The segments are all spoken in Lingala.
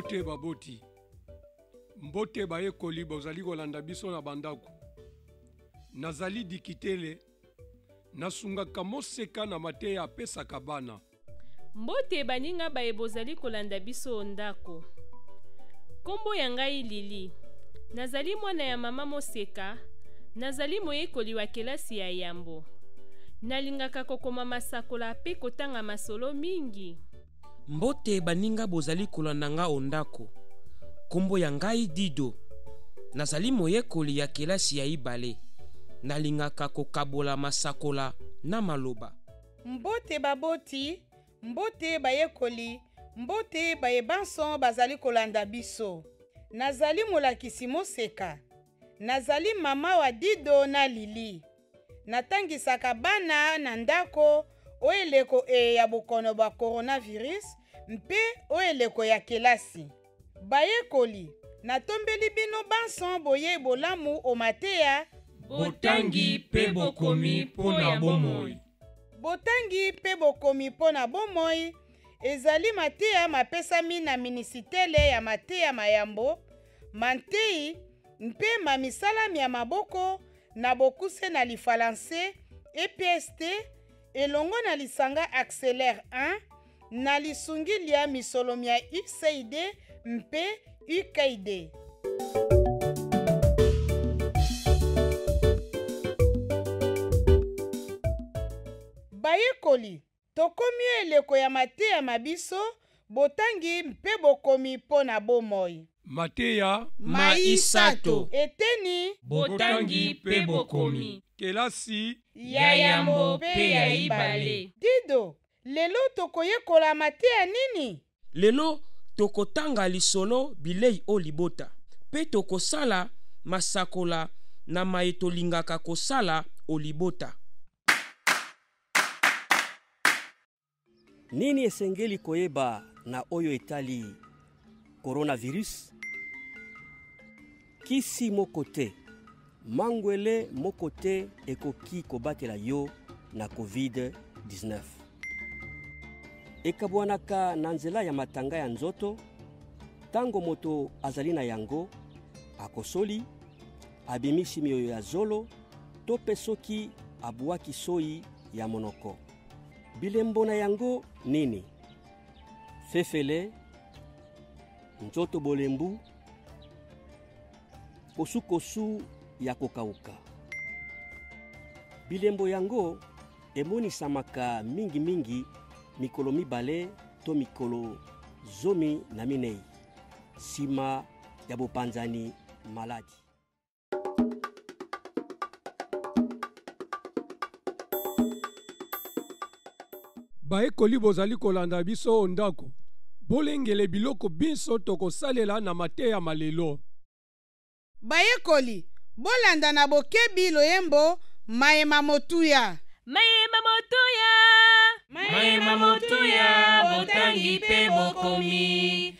mbote baboti mbote bayekoli bozali kolanda biso na bandako nazali dikitele nasungaka moseka na mateya apesaka bana Mbote baninga baye bozali kolanda biso o ndako. Kombo ya ngai Lili. Nazali mwana ya mama Moseka. Nazali moyekoli wa kelasi ya yambo. Nalingaka kokoma masakola pe kotanga masolo mingi. Mbote baninga bozali kolanda nga o ndako. Kombo ya ngai Dido. Nazali moyekoli ya kelasi ya ibale. Nalingaka kokabola masakola na maloba. Mbote baboti, mbote bayekoli, mbote baye banso bazali kolanda biso. Nazali molakisi moseka. Nazali mama wa Dido na Lili. Natangisaka bana na ndako o eleko eye ya bokono bwa coronavirus mpe o eleko ya kelasi. Bayekoli, natombeli bino banso boyei bolamu o mateya. Botangi mpe bokomi mpo na bomoi. Botangi mpe bokomi mpo na bomoi ezali mateya mapesami na Minisitele ya Mateya ma Yambo, ma Ntei mpe ma Misala mya Maboko na bokuse na lifalanse, EPST, elongo na lisanga Acceler I, na lisungi lya misolo mya USAID mpe UKAID. Bayekoli, tokomi o eleko ya mateya ma biso, botangi mpe bokomi mpo na bomoi. Mateya ma isato. Eteni. Botangi mpe bokomi. Kelasi. Ya yambo mpe ya ibale. Dido, Lelo tokoyekola mateya nini? Lelo, tokotanga lisolo Bilei o libota mpe tokosala masakola na maye tolingaka kosala o libota. Nini esengeli koyeba na oyo etali coronavirus kisi moko te mangwele moko te ekoki kobatela yo na covid-19 ekabwanaka na nzela ya matanga ya nzoto ntango moto azali na yango akosoli abimisi miyoyo ya zolo to mpe soki abwaki soyi ya monoko bilembo na yango nini fefele nzoto bolembu kosukosu ya kokauka bilembo yango emonisamaka mingimingi mikolo mibale to mikolo zomi na minei nsima ya bopanzani maladi bayekoli bozali kolanda biso o ndako bolengele biloko binso tokosalela na mateya ma lelo bayekoli bolanda na bokebi loyembo maye ma motuya maye ma motuya maye ma motuya botangi mpe bokomi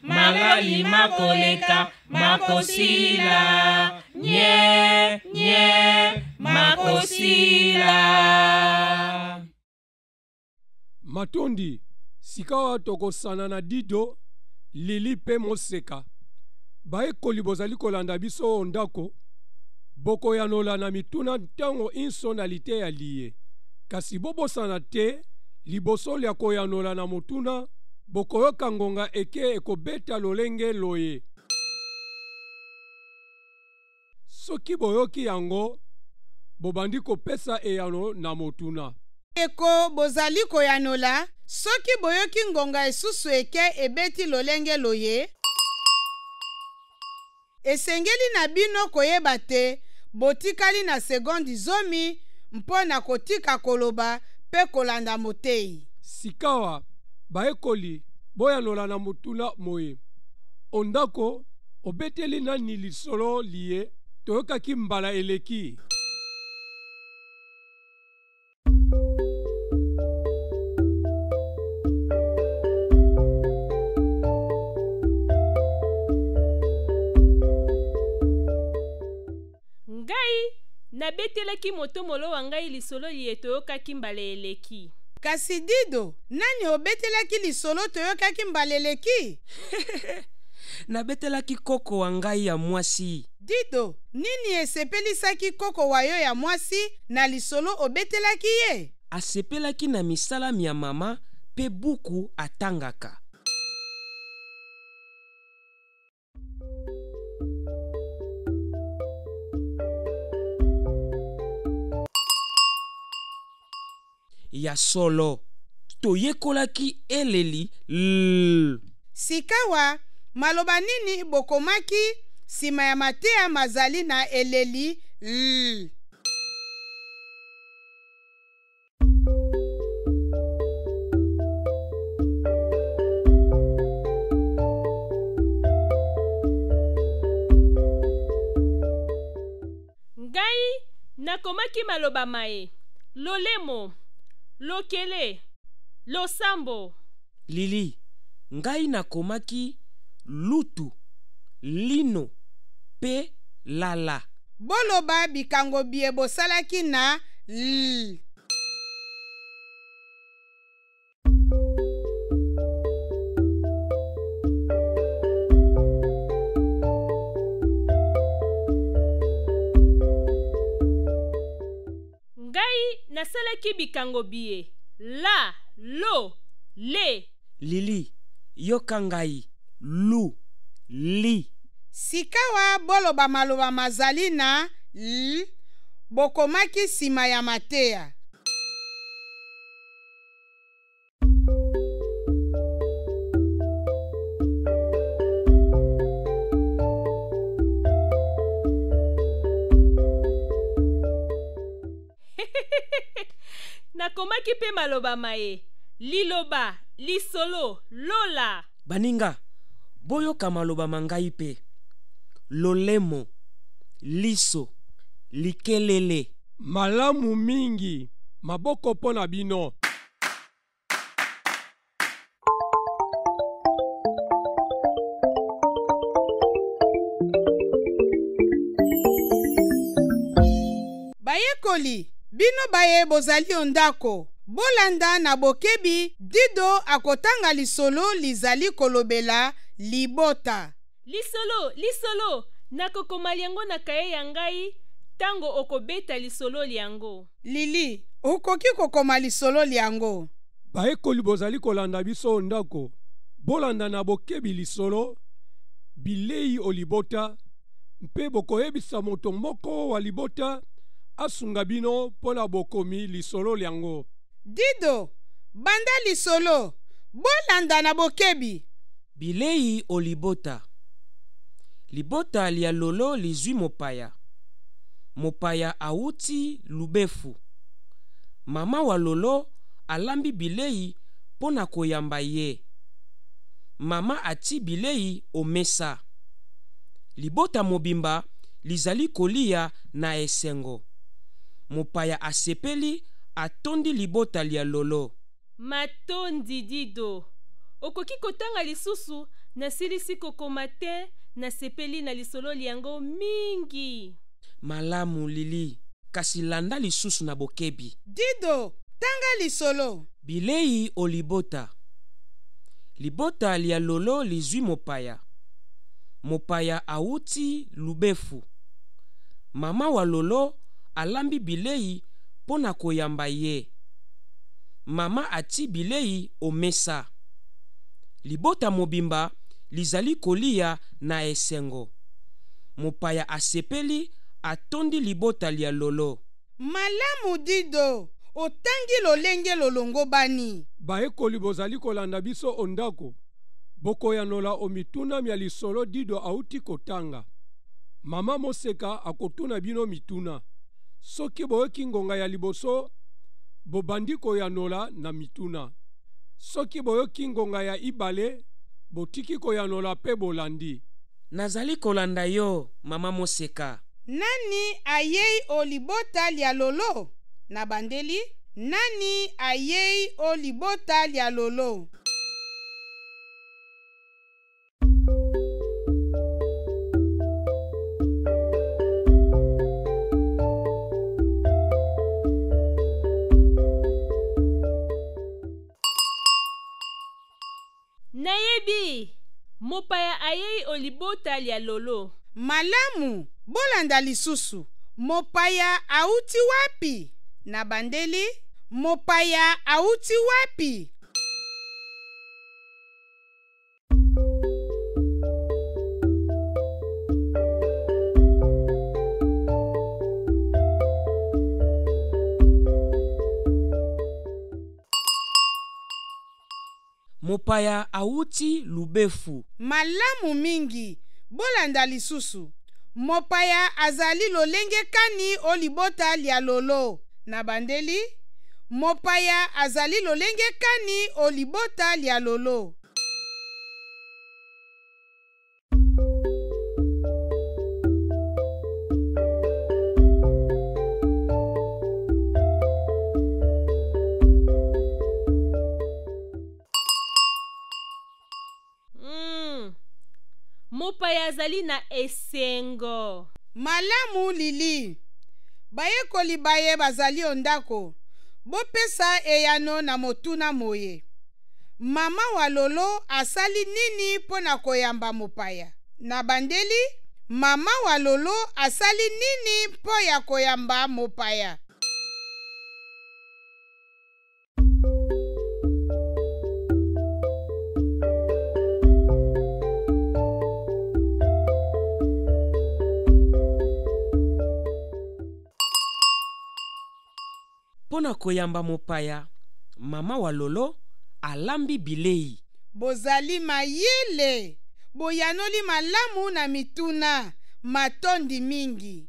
malali makoleka makosila nye nye makosila matondi sikawa tokosana na dido lili mpe moseka bayekoli bozali kolanda biso o ndako bokoyanola na mituna ntango inso na liteya liye kasi bobosana te liboso lya koyanola na motuna Bokoyoka ngonga eke ekobeta lolenge loye. Soki boyoki yango, bobandi kopesa eyano na motuna. Eko bozali koyanola. Soki boyoki ngonga esusu eke ebeti lolenge loye. Esengeli na bino koyeba te botikali na sekondi zomi mpo na kotika koloba mpe kolanda moteyi. Sikawa, bayekoli, boyanola na motuna moye, O ndako, obeteli nani lisolo liye toyokaki mbala eleki? nabetelaki moto molo wa ngai lisolo liye toyokaki mbala eleki kasi dido nani obetelaki lisolo toyokaki mbala eleki nabetelaki koko wa ngai ya mwasi Dido, nini esepelisaki koko wa yo ya mwasi na lisolo obetelaki ye? Asepelaki na misala mya mama mpe buku atangaka. Ya solo, toyekolaki eleli L. Sikawa, maloba nini bokomaki nsima ya mateya mazali na eleli L? Ngai nakomaki maloba maye, lolemo, lokele, losambo. Lili, Ngai nakomaki lutu, lino, pe lala. Boloba bikango biye bosalaki na lil. nasalaki bikango biye la lo le lili yoka ngai lu li sikawa boloba maloba mazali na l bokomaki nsima ya mateya nakomaki mpe maloba maye liloba lisolo lola baninga boyoka maloba ma ngai mpe lolemo liso likelele Malamu mingi. Maboko mpo na bino. Bayekoli, bino baye bozali o ndako, bolanda na bokebi Dido akotanga lisolo lizali kolobela libota. Lisolo, lisolo! Nakokoma lyango na kaye ya ngai tango okobeta lisolo lyango. Lili, okoki kokoma lisolo lyango? Bayekoli bozali kolanda biso o ndako, bolanda na bokebi lisolo Bilei o libota mpe bokoyebisa moto moko wa libota asunga bino mpo na bokomi lisolo lyango. Dido, banda lisolo. Bolanda na bokebi. Bilei o libota. Libota lya Lolo lizwi mopaya. Mopaya awuti Lubefu. Mama wa Lolo alambi bilei mpo na koyamba ye. Mama atii bilei o mesa. Libota mobimba lizali koliya na esengo. Mopaya asepeli atondi libota lya Lolo. Matondi Dido. Okoki kotanga lisusu nasilisi kokoma te nasepeli na lisolo lyango mingi. Malamu Lili, kasi landa lisusu na bokebi. Dido, tanga lisolo. Bilei o libota. Libota lya Lolo lizwi mopaya. Mopaya awuti Lubefu. Mama wa Lolo alambi bilei mpo na koyamba ye. mama atii bilei o mesa. Libota mobimba lizali koliya na esengo. Mopaya asepeli, atondi libota lya Lolo. Malamu, Dido. Otangi lolenge lolongobani. Bayekoli bozali kolanda biso o ndako, bokoyanola o mituna mya lisolo Dido auti kotanga. Mama Moseka akotuna bino mituna. Soki boyoki ngonga ya liboso, bobandi koyanola na mituna. Soki boyoki ngonga ya ibale, botiki koyanola pe bolandi. Nazali kolanda yo, mama Moseka. Nani ayei o libota lya lolo? Nabandeli, Nani ayei o libota lya lolo? nayebi mopaya ayei o libota lya lolo malamu bolanda lisusu mopaya auti wapi na bandeli mopaya auti wapi mopaya awuti lubefu malamu mingi bolanda lisusu mopaya azali lolenge kani o libota lya lolo na bandeli mopaya azali lolenge kani o libota lya lolo mopaya azali na esengo malamu lili bayekoli baye bazali o ndako bopesa eyano na motuna moye Mama wa Lolo asali nini mpo na koyamba mopaya? Na bandeli, mama wa Lolo asali nini mpo ya koyamba mopaya? Mpo na koyamba mopaya, mama wa Lolo alambi bilei. Bozali mayele! Boyanoli malamu na mituna. Matondi mingi.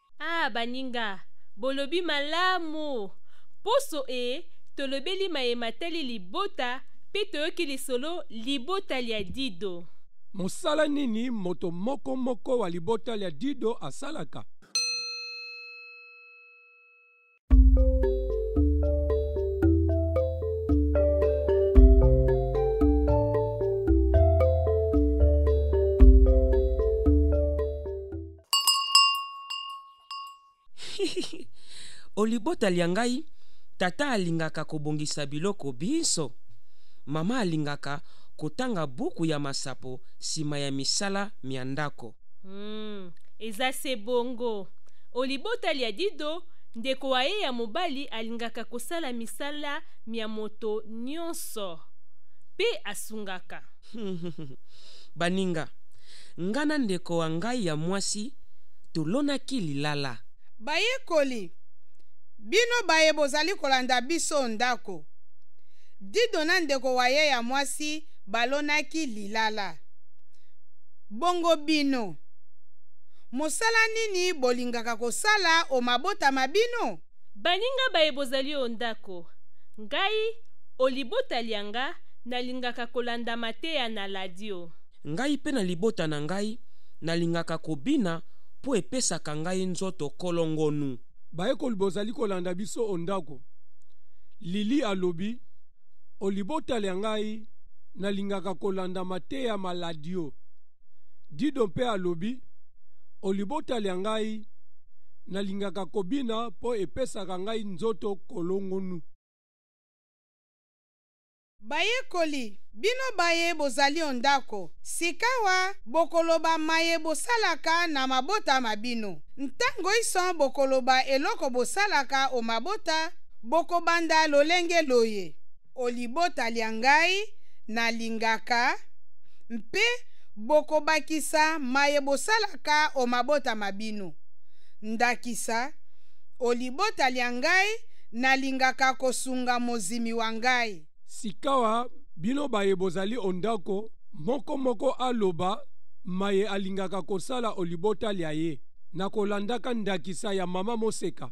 Ah baninga, bolobi malamu. Poso e, tolobeli maye matali libota pe toyoki lisolo libota lya Dido. Mosala nini moto moko moko wa libota lya Dido asalaka? o libota lya ngai tata alingaka kobongisa biloko binso mama alingaka kotanga buku ya masapo nsima ya misala mya ndako Hmm, eza se bongo. O libota lya Dido, ndeko wa ye ya mobali alingaka kosala misala mya moto nyonso mpe asungaka. Baninga, nga na ndeko wa ngai ya mwasi tolonaki lilala. Bayekoli, bino baye bozali kolanda biso o ndako. Dido na ndeko wa ye ya mwasi balonaki lilala. Bongo bino? Mosala nini bolingaka kosala o mabota ma bino? Baninga baye bozali o ndako, ngai o libota lya nga nalingaka kolanda mateya na ladio. Ngai mpe na libota na ngai nalingaka kobina mpo epesaka ngai nzoto kolongonu. Bayekoli bozali kolanda biso o ndako, Lily alobi. o libota lya ngai nalingaka kolanda mateya ma ladio. Dido mpe alobi, O libota lya ngai nalingaka kobina mpo epesaka ngai nzoto kolongonu. Bayekoli, bino baye bozali o ndako, sikawa bokoloba maye bosalaka na mabota ma bino. Ntango inso bokoloba eloko bosalaka o mabota, Bokobanda lolenge loye, o libota lya ngai nalingaka, mpe bokobakisa maye bosalaka o mabota ma bino. Ndakisa, o libota lya ngai nalingaka kosunga mozimi wa ngai. Sikawa bino baye bozali o ndako, moko moko aloba maye alingaka kosala o libota lya ye, na kolandaka ndakisa ya mama Moseka.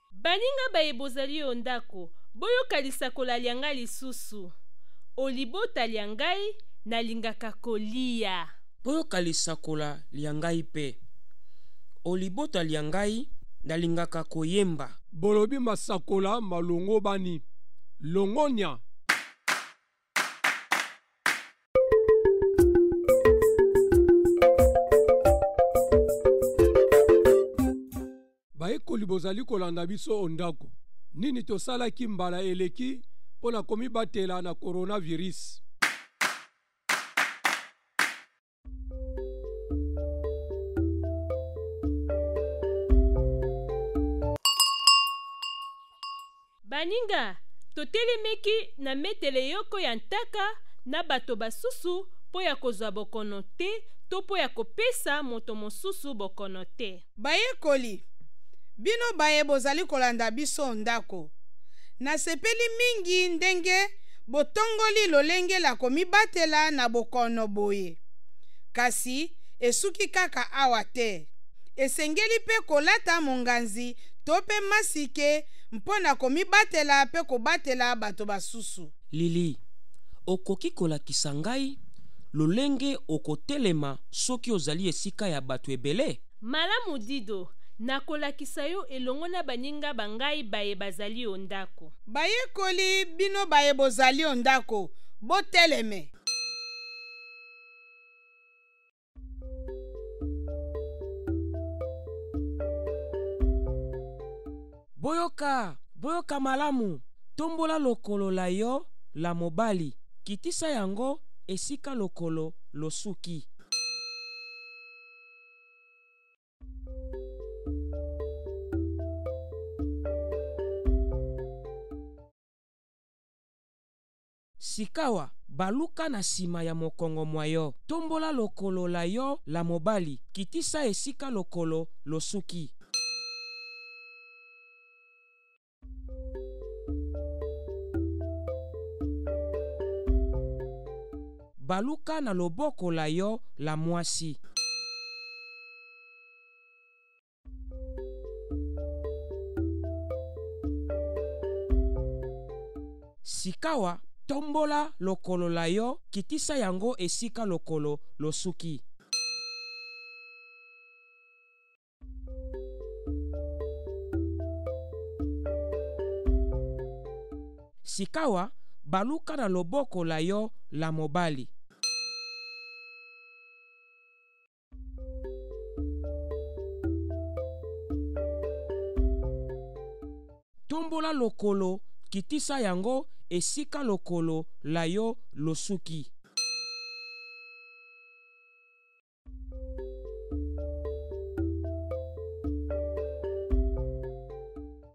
Baninga baye bozali o ndako, boyoka lisakola lya ngai lisusu, O libota lya ngai, nalingaka koliya. Boyoka lisakola lya ngai mpe, O libota lya ngai, nalingaka koyemba. Bolobi masakola malongobani, longonya! bayekoli bozali kolanda biso o ndako nini tosalaki mbala eleki mpo na komibatela na coronavirus baninga totelemeki na metele yoko ya ntaka na bato basusu mpo ya kozwa bokono te to mpo ya kopesa moto mosusu bokono te Bayekoli, bino baye bozali kolanda biso ndako, nasepeli mingi ndenge botongoli lolenge la komibatela na bokono boye. Kasi esuki kaka awa te. Esengeli mpe kolata monganzi to mpe masike mpo na komibatela mpe kobatela bato basusu. Lily, okoki kolakisa ngai lolenge okotelema soki ozali esika ya bato ebele? Malamu Dido, nakolakisa yo elongo na baninga ba ngai baye bazali o ndako. Bayekoli, bino baye bozali o ndako, boteleme. boyoka boyoka malamu tombola lokolo la yo la mobali kitisa yango esika lokolo losuki Sikawa, baluka na nsima ya mokongo mwa yo. Tombola lokolo la yo la mobali, kitisa esika lokolo losuki. Baluka na loboko la yo la mwasi. Sikawa tombola lokolo la yo, kitisa yango esika lokolo losuki. Sikawa baluka na loboko la yo la mobali. tombola lokolo kitisa yango esika lokolo la yo losuki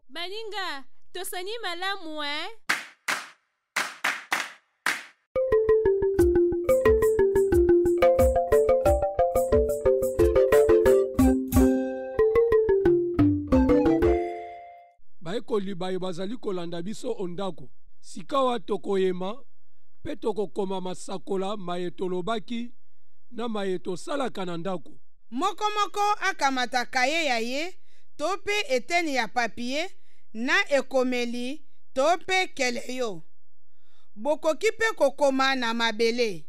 baninga tosani malamu eh? bayekoli baye bazali kolanda biso o ndako sikawa tokoyema mpe tokokoma masakola maye tolobaki na maye tosalaka na ndako Moko moko akamata kaye ya ye to mpe eteni ya papye na ekomeli to mpe keleyo. Bokoki mpe kokoma na mabele.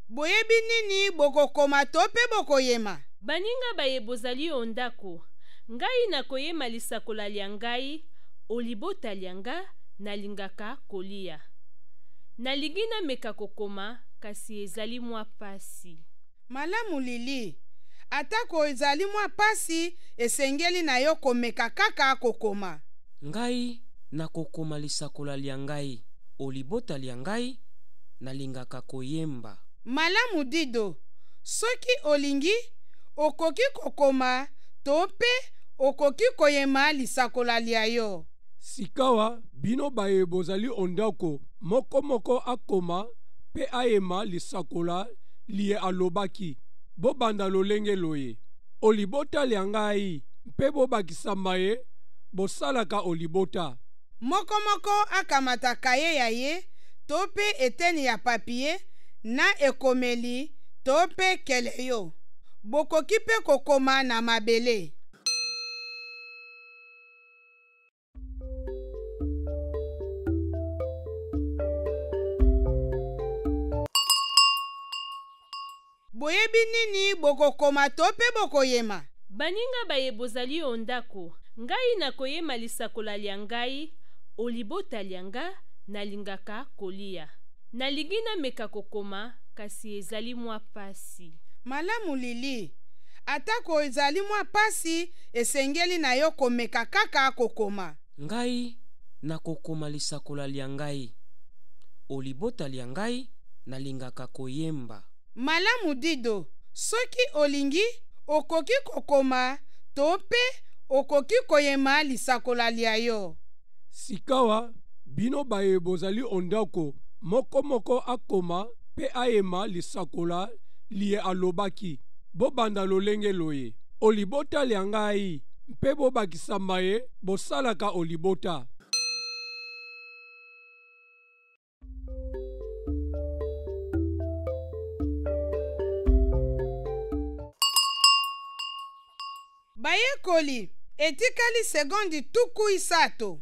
Boyebi nini bokokoma to mpe bokoyema? Baninga baye bozali o ndako, ngai nakoyema lisakola lya ngai o libota lya nga nalingaka koliya. Nalingi nameka kokoma kasi ezali mwa pasi. Malamu Lili, atako ezali mwa pasi, esengeli na yo komeka kaka kokoma. Ngai nakokoma lisakola lya ngai o libota lya ngai, nalingaka koyemba. Malamu Dido, soki olingi, okoki kokoma to mpe okoki koyema lisakola lya yo. Sikawa, bino baye bozali o ndako, moko moko akoma mpe ayema lisakola liye alobaki. Bobanda lolenge loye, O libota lya ngai, mpe bobakisa maye bosalaka o libota. Moko moko akamata kaye ya ye to mpe eteni ya papye na ekomeli to mpe keleyo. Bokoki mpe kokoma na mabele. Boyebi nini bokokoma to mpe bokoyema? Baninga baye bozali o ndako, ngai nakoyema lisakola lya ngai o libota lya nga, nalingaka koliya. Nalingi nameka kokoma, kasi ezali mwa pasi. Malamu Lili, atako ezali mwa pasi, esengeli na yo komeka kaka kokoma. Ngai nakokoma lisakola lya ngai, o libota lya ngai nalingaka koyemba. Malamu Dido, soki olingi okoki kokoma to mpe okoki koyema lisakola lya yo. Sikawa, bino baye bozali o ndako, moko moko akoma mpe ayema lisakola liye alobaki. Bobanda lolenge loye, O libota lya ngai, mpe bobakisa maye bosalaka o libota. Bayekoli, etikali sekondi tuku isato.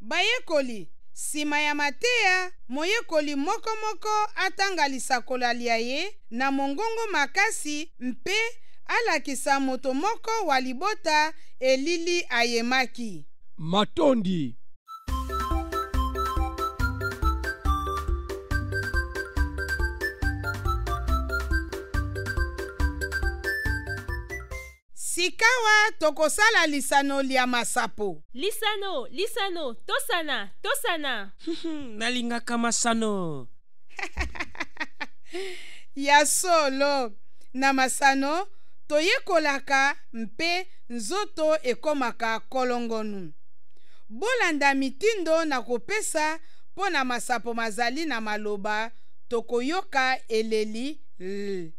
Bayekoli, Sima ya mateya, moyekoli moko moko atanga lisakola lia ye na mongongo makasi mpe alakisa moto moko wa libota elili ayemaki. Matondi. Sikawa tokosala lisano lya masapo. Lisano, lisano, tosana, tosana. Nalingaka masano. ya solo, na masano toyekolaka mpe nzoto ekomaka kolongonu. Bolanda mitindo na kopesa mpo na masapo mazali na maloba tokoyoka eleli l.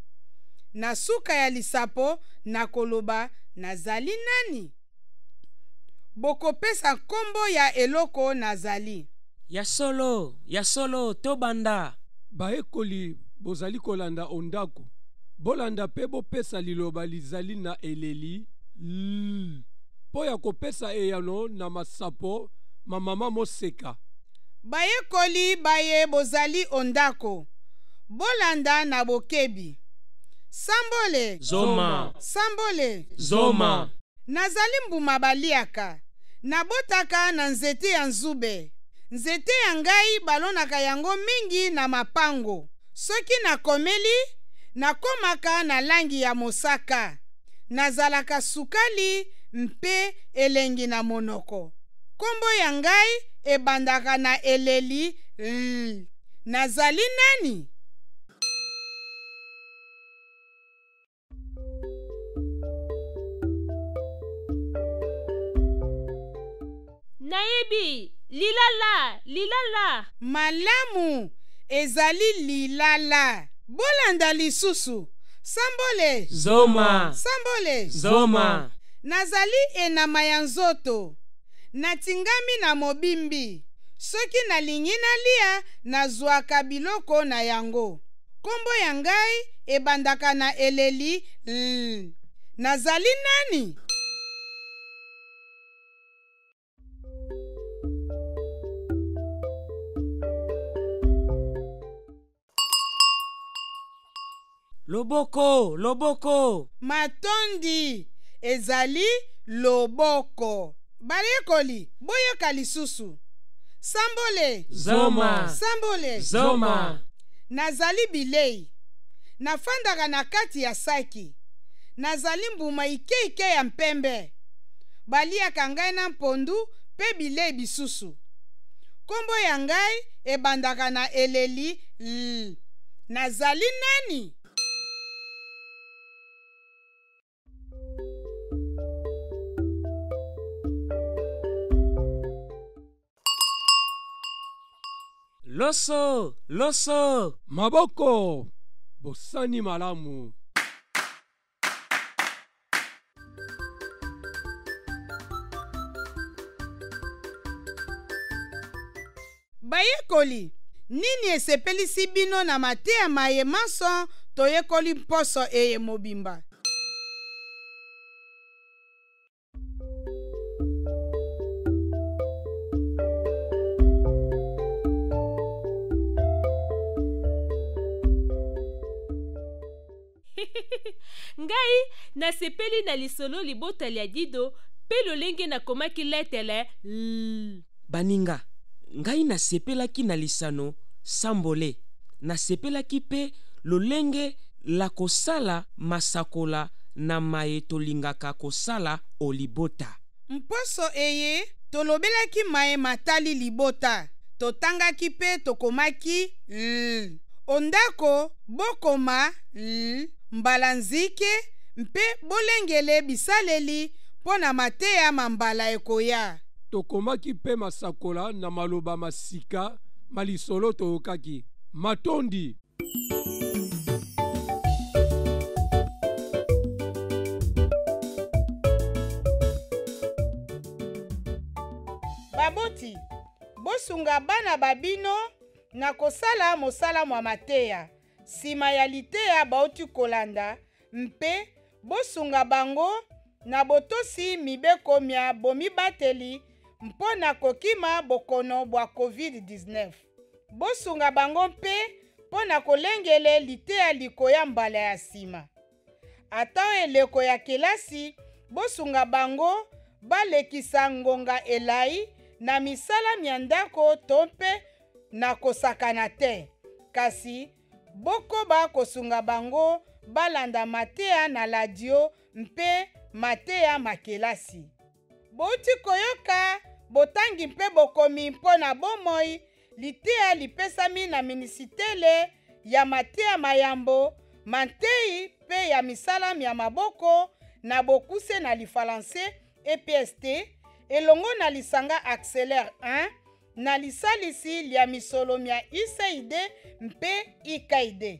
na suka ya lisapo na koloba nazali nani? Bokopesa nkombo ya eloko nazali. Ya solo, ya solo, tobanda. Bayekoli bozali kolanda o ndako. Bolanda mpe bopesa liloba lizali na eleli L mpo ya kopesa eyano na masapo ma mama Moseka. Bayekoli baye bozali o ndako, bolanda na bokebi. Sambole! Zoma! Sambole! Zoma! Nazali mbuma baliaka. Nabotaka na nzete ya nzube. Nzete ya ngai balonaka yango mingi na mapango. Soki nakomeli, nakomaka na langi ya mosaka. nazalaka sukali mpe elengi na monoko nkombo ya ngai ebandaka na eleli l nazali nani Nayebi! Lilala! Lilala! Malamu! Ezali lilala. Bolanda lisusu. Sambole! Zoma! Sambole! Zoma! Nazali enama ya nzoto. Natingami na mobimbi. Soki nalingi nalia, nazwaka biloko na yango. Kombo ya ngai ebandaka na eleli l. Nazali nani? loboko loboko matondi ezali loboko bayekoli boyoka lisusu sambole zoma sambole zoma nazali bilei nafandaka na kati ya saki nazali mbuma ikeike ya mpembe baliaka ngai na mpondu mpe bilei bisusu. Nkombo ya ngai ebandaka na eleli l. Nazali nani? loso loso maboko bosani malamu Bayekoli, nini esepelisi bino na mateya maye manso toyekoli mposo eye mobimba? ngai nasepeli na lisolo libota lya dido mpe lolenge nakomaki letele l Baninga, ngai nasepelaki na lisano Sambole. Nasepelaki mpe lolenge la kosala masakola na maye tolingaka kosala o libota. Mposo eye, tolobelaki maye matali libota. Totangaki mpe tokomaki ll o ndako Bokoma ll mbala nzike mpe bolengele bisaleli mpo na mateya ma mbala ekoya. Tokomaki mpe masakola na maloba ma sika ma lisolo toyokaki. Matondi! Baboti, bosunga bana ba bino na kosala mosala mwa mateya. Nsima ya liteya bauti kolanda, mpe bosunga bango na botosi mibeko mya bomibateli mpo na kokima bokono bwa COVID-19. Bosunga bango mpe mpo na kolengele liteya likoya mbala ya nsima. Ata eleko ya kelasi, bosunga bango balekisa ngonga elai na misala mya ndako to mpe na kosakana te, kasi bokoba kosunga bango balanda mateya na ladio mpe mateya ma kelasi. Bouti koyoka botangi mpe bokomi mpo na bomoi liteya lipesami na minisitele ya mateya ma yambo, ma ntei mpe ya misala mya maboko na bokuse na lifalanse, EPST, elongo na lisanga Acceler 1 na lisalisi lya misolo mya USAID mpe IKID.